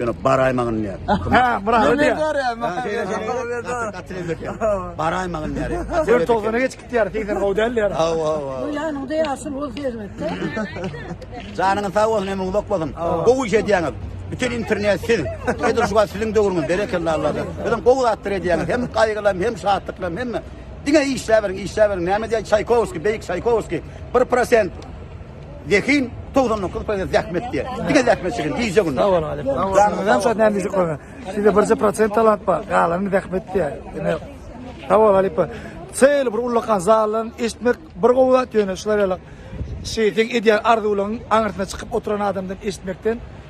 Ýöne baraýmagyny diýýär. Ha, Murada diýýär. Baraýmagyny diýýär. Dört togana geçip gitýär, segsen gowy däl diýär. Hawa, hawa. Bu ýanyňda ýaşyl ol serwetde. Janyňyz sag bolsun, ömrüňiz uzak bolsun. Gowy iş edýäňiz. Bütün internet siz. Edil şu wagt siziň döwrüňiz berekella Allahdan. Özüm gowy zatlar edýäňiz. Hem gaýgylam, hem şatlyklam, hemme. Diňe işläberiň, işläberiň. Näme diýýär Çaýkowskiý, beýik Çaýkowskiý. 1%. Zehin 99 prosent zähmet diýär. Diňe zähmet çeken gije günde. Salam aleyküm. Janymdan şat näme diýjek bolsa. Sizde birje prosent talant bar. Galany zähmet diýär. Ine. Salam aleyküm. Şeýle bir ullakan zaldan eşitmek bir gowy zat ýöne şular ýaly şeyden edýän arzuwlaryň aňyrsyna çykyp oturan adamdan eşitmekden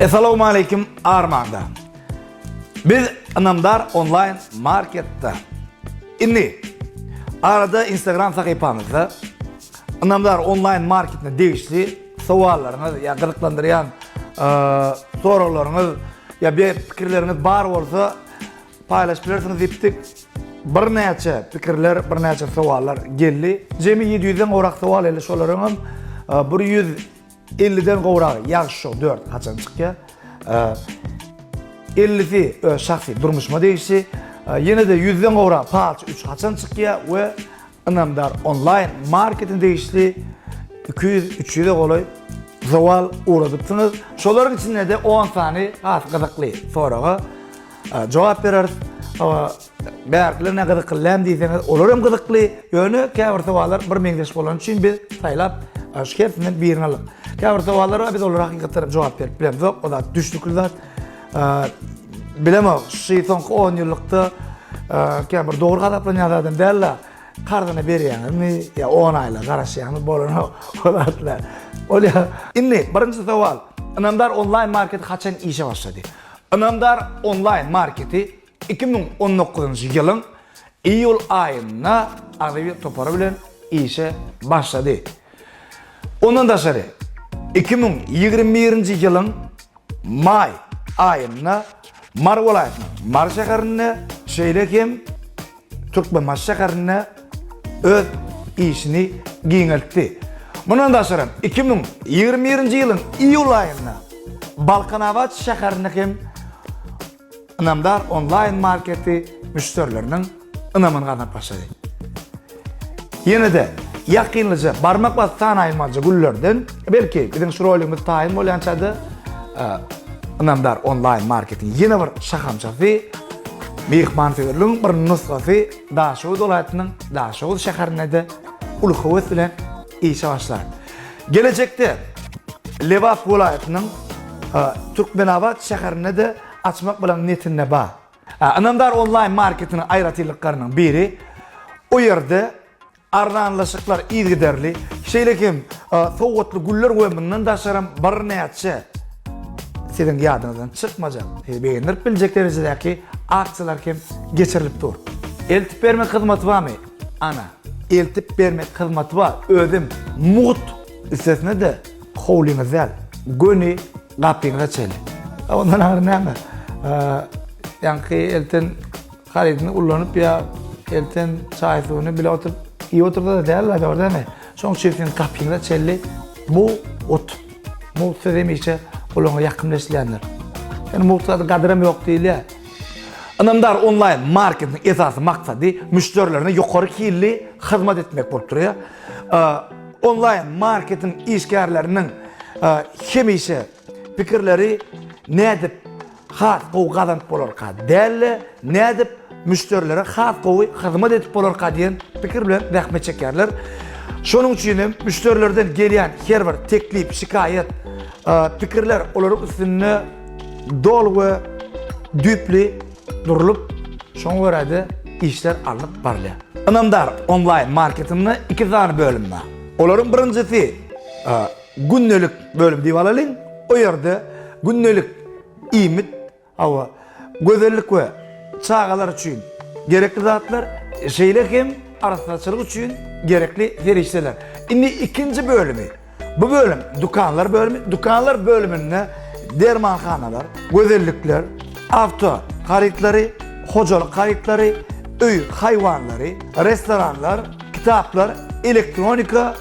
Esalowmaleýkim Armanda. Biz Ynamdar online marketde. Indi arada Instagram sahypamyzda Ynamdar online marketine degişli sowallaryňyz ýa gyzyklandyrýan soraglaryňyz ýa bir pikirleriňiz bar bolsa Paýlaşyp bilersiňiz diýipdik. Birnäçe pikirler, birnäçe sowallar geldi. Jemi ýedi ýüzden gowrak sowal geldi. Şolaryňam e, bir ýüz elliden gowragy ýagşy şou dört haçan çykýar. E, ellisi öz şahsy durmuşyma degişli. E, ýene-de ýüzden gowrak palç üç haçan çykýar we Ynamdar onlaýn marketine degişli iki ýüz, üç ýüze golaý zowal ugradypsyňyz. Şolaryň içinde-de on sany has gyzykly soraga jogap bereris. Bärkiler ne gyzykly näme diýseňiz, olar hem gyzykly. Ýöne käbir sowallar bir meňzeş bolany üçin biz saýlap şu hersinden birini aldyk. Käbir sowallara biz olara hakykatdan hem jogap berip bilemzok. O zat düşnükli zat. Bilemok, şu soňky 10 ýyllykda käbir bir dogry gazaplanýan zadam däl-de, karzyny berýäňizmi ýa 10 aýla garaşýaňyz bolan ol atlar. Ol ýa. Indi birinji sowal. Ynamdar onlaýn marketi haçan işe başlady? Ynamdar onlaýn marketi Iki müň on dokuzynjy ýylyň iýul aýynda Aziz topary bilen işe başlady. Ondan daşary, iki müň ýigrimi birinji ýylyň maý aýynda Mary welaýatynyň Mary şäherinde, şeýle hem Türkmenbaşy şäherinde öz işini giňeltdi. Mundan daşary, iki müň ýigrimi birinji ýylyň iýul aýynda Balkanabat şäherinde hem Ynamdar onlaýn marketi müşderileriniň ynamyny gazanyp başlady. Ýene-de ýakynlyja barmak basyp sanaýylmajy günlerden, belki biziň şu roligimiz taýyn bolýançada Ynamdar onlaýn marketiň ýene bir şahamçasy, myhmansöýerligiň bir nusgasy Daşoguz welaýatynyň Daşoguz şäherinde-de uly höwes bilen işe başlar. Gelejekde Lebap welaýatynyň Türkmenabat şäherinde-de açmak bilen niýetinde bar. Ynamdar onlaýn marketiniň aýratynlyklarynyň biri, o ýerde arzanlaşyklar yzygiderli, şeýle hem sowgatly güller we mundan daşaram birnäçe siziň ýadyňyzdan çykmajak, sizi begendirip biljek derejedäki aksiýalar hem geçirilip dur. Eltip bermek hyzmaty barmy? Ana, eltip bermek hyzmaty bar, özem mugt. Üstesine-de, howlyňyz däl, göni gapyňyza çenli. A ondan aňry näme? Ýaňky elten harydyny ullanyp ýa elten çaý-suwuny bile oturyp iýip otursa-da däl-la, dogry dälmi? Şonuň üçin siziň gapyňyza çenli mugt. Mugt sözi hemişe gulaga ýakymly eşidilýändir. Ýöne mugt zady gadyram ýok diýilýär. Ynamdar onlaýn marketiň esasy maksady müşderilerine ýokary hilli hyzmat etmek bolup durýar. Onlaýn marketiň işgärleriniň hemişe pikirleri nädip has gowy gazanyp bolarka däl-de, nädip müşderilere has gowy hyzmat edip bolarka diýen pikir bilen zähmet çekýärler. Şonuň üçin hem müşderilerden gelýän her bir teklip, şikaýat, pikirler olaryň üstünde doly we düýpli durlup, şoňa görä-de işler alnyp barylýar. Ynamdar onlaýn marketinde iki sany bölüm bar. Olaryň birinjisi gündelik bölüm diýip alalyň. O ýerde gündelik iýmit, hawa, gözellik we çagalar üçin gerekli zatlar, şeýle hem arassaçylyk üçin gerekli serişdeler. Indi ikinji bölümi. Bu bölüm dükanlar bölümi. Dükanlar bölüminde dermanhanalar, gözellikler, awto harytlary, hojalyk harytlary, öý haýwanlary, restoranlar, kitaplar, elektronika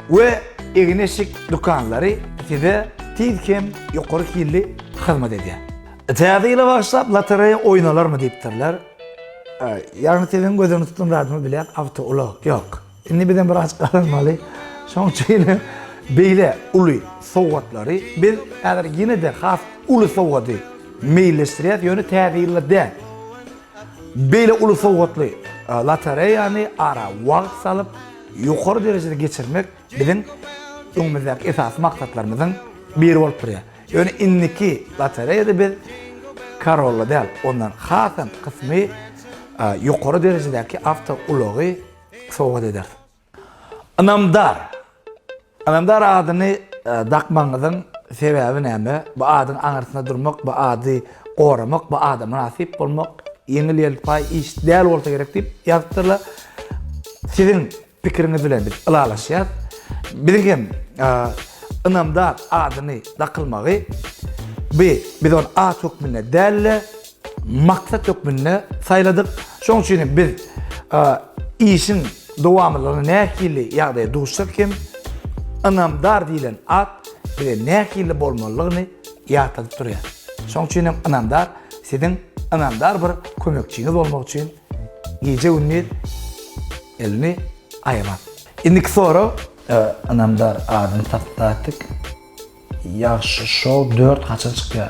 we egin-eşik dükanlary size tiz hem ýokary hilli hyzmat edýär. Täze ýyla bagyşlap lotereýa oýnalarmy diýipdirler. Ýagny siziň gözüňiz tutulýan radmybilen awtoulag ýok. Indi bizem bir az gazanmaly. Şoň üçin beýle uly sowgatlary biz häzir ýene-de has uly sowgady meýilleşdirýäs, ýöne Täze ýylda däl. Beýle uly sowgatly lotereýany ara wagt salyp, ýokary derejede geçirmek biziň öňümizdäki esasy maksatlarymyzyň biri bolup durýar. Ýöne indiki lotereýada biz Corolla däl, ondan hasam kysmy ýokary derejedäki awtoulagy, sowgat ederis. Ynamdar. Ynamdar adyny dakmagyňyzyň sebäbi näme? Bu adyň aňyrsynda durmak, bu ady goramak, bu ada mynasyp bolmak ýeňil-ýelpaý iş däl bolsa gerek diýip ýazypdyrlar. Siziň pikiriňiz bilen biz ylalaşýas. Biziň hem Ynamdar adyny dakylmagy bi biz ony at hökmünde däl-de, maksat hökmünde saýladyk. Şonuň üçin hem biz işiň dowamlylygyny nähili ýagdaýa duşsak hem ynamdar diýlen at bize nähili bolmalydygyny ýatladyp durýar. Şonuň üçin hem ynamdar siziň ynamdar bir kömekçiňiz bolmak üçin gije-gündiz elini aýamaz. Indiki sorag, ynamdar adyny tapyp tapdyk. Ýagşy show dört haçan çykýar?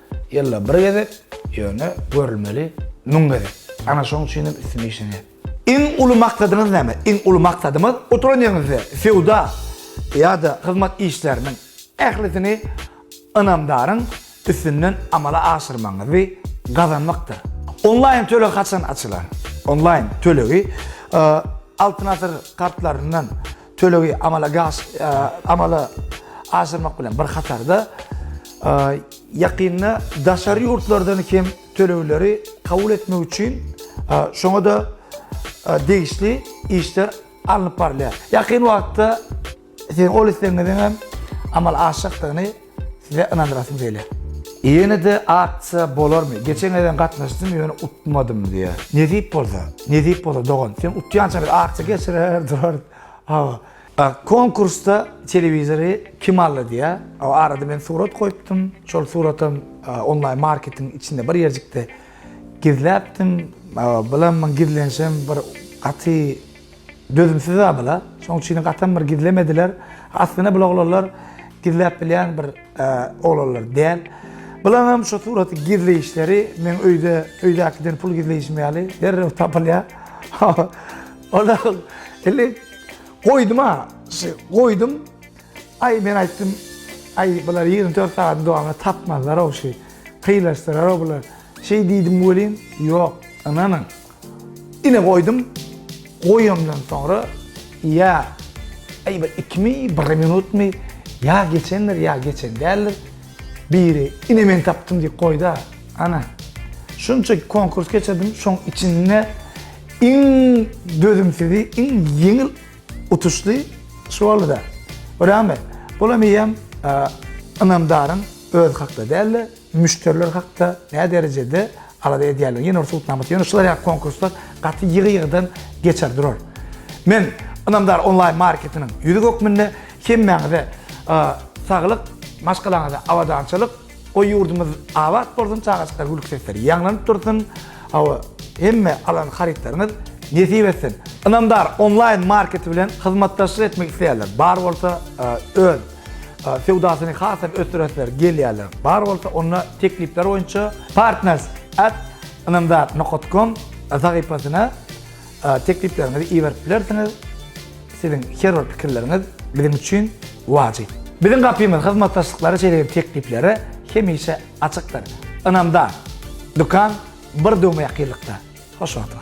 Ýylda bir gezek, ýöne görülmeli müň gezek. Ana şoň üçin hem üstüne işlenýär. Iň uly maksadyňyz näme? Iň uly maksadymyz oturan ýeriňizde söwda ýa-da hyzmat işleriniň ählisini ynamdaryň üstünden amala aşyrmagyňyzy gazanmakdyr. Onlaýn töleg haçan açylar? Onlaýn tölegi Altyn asyr kartlaryndan Tölegi amala gaş, e, amala aşyrmak bilen bir hatarda e, ýakynda daşary ýurtlardan hem tölegleri kabul etmek üçin e, şoňa da e, degişli işler alnyp barylýar. Ýakyn wagtda siziň ol islegiňiziň hem amal aşjakdygyny Size ynandyrasym gelýär. Ýene-de aksiýa bolarmy? Geçen gezegem gatnaşdym, ýöne utmadym diýýär. Nesip bolsa, nesip bolsa dogan. Sen utýança biz aksiýa geçirer durarys. Hawa. Konkursda telewizory kim aldy diýýär. O arada men surat goýupdym. Şol suratam onlaýn marketiň içinde bir ýerjikde gizläpdim. Bilemmi gizlenişem bir gaty Dözümsiz-ä bula. Şoň üçinem gatam bir gizlemediler. Aslynda bul oglanlar gizläp bilýän bir oglanlar däl. Bulaňam şu suraty gizleýişleri meň öýde, öýdäkiden pul gizleýişim ýaly derrew tapylýar. Onda indi goýdum-a, şi goýdum. Aý, men aýtdym, aý, bular ýigrimi dört sagadyň dowamynda tapmazlar-ow şi, pylaşdyrar-ow bular. Şeý diýdim welin, ýok, ynanyň. Ine goýdum. Goýamdan soňra ýa aý bir ikimi, bir minutmy ýa geçendir, ýa geçen däldir. Biri ine men tapdym diýip goýda. Ana. Şunça konkurs geçirdim, şoň içinde iň dözümsizi, iň ýeňil utuşly şu boldy-da. Rahmet. Bulam eýýäm ynamdaryň özi hakda däldi. Müşderiler hakda nä derejede alada edýärler? Ýene bir subutnama. Ýöne şular ýaly konkurslar gaty ýygy-ýygydan geçer durar. Men Ynamdar onlaýn marketiniň ýüzi hökmünde hemmäňize saglyk, maşgalaňyza abadançylyk, goý ýurdumyz abat bolsun, çagajyklara gülki sesleri ýaňlanyp dursun, hawa, hemme alan harytlaryňyz nesip etsin. Ynamdar onlaýn marketi bilen hyzmatdaşlyk etmek isleýänler bar bolsa, öz. Söwdasyny hasam ösdüresler gelýärler. Bar bolsa onda teklipler boýunça partners at ynamdar nokat kom sahypasyna teklipleriňizi iberip bilersiňiz. Siziň her bir pikirleriňiz biziň üçin wajyp. Biziň gapymyz hyzmatdaşlyklara şeýle tekliplere hemişe açykdyr. Ynamdar dükan bir döwme ýakynlykda. Hoşagla.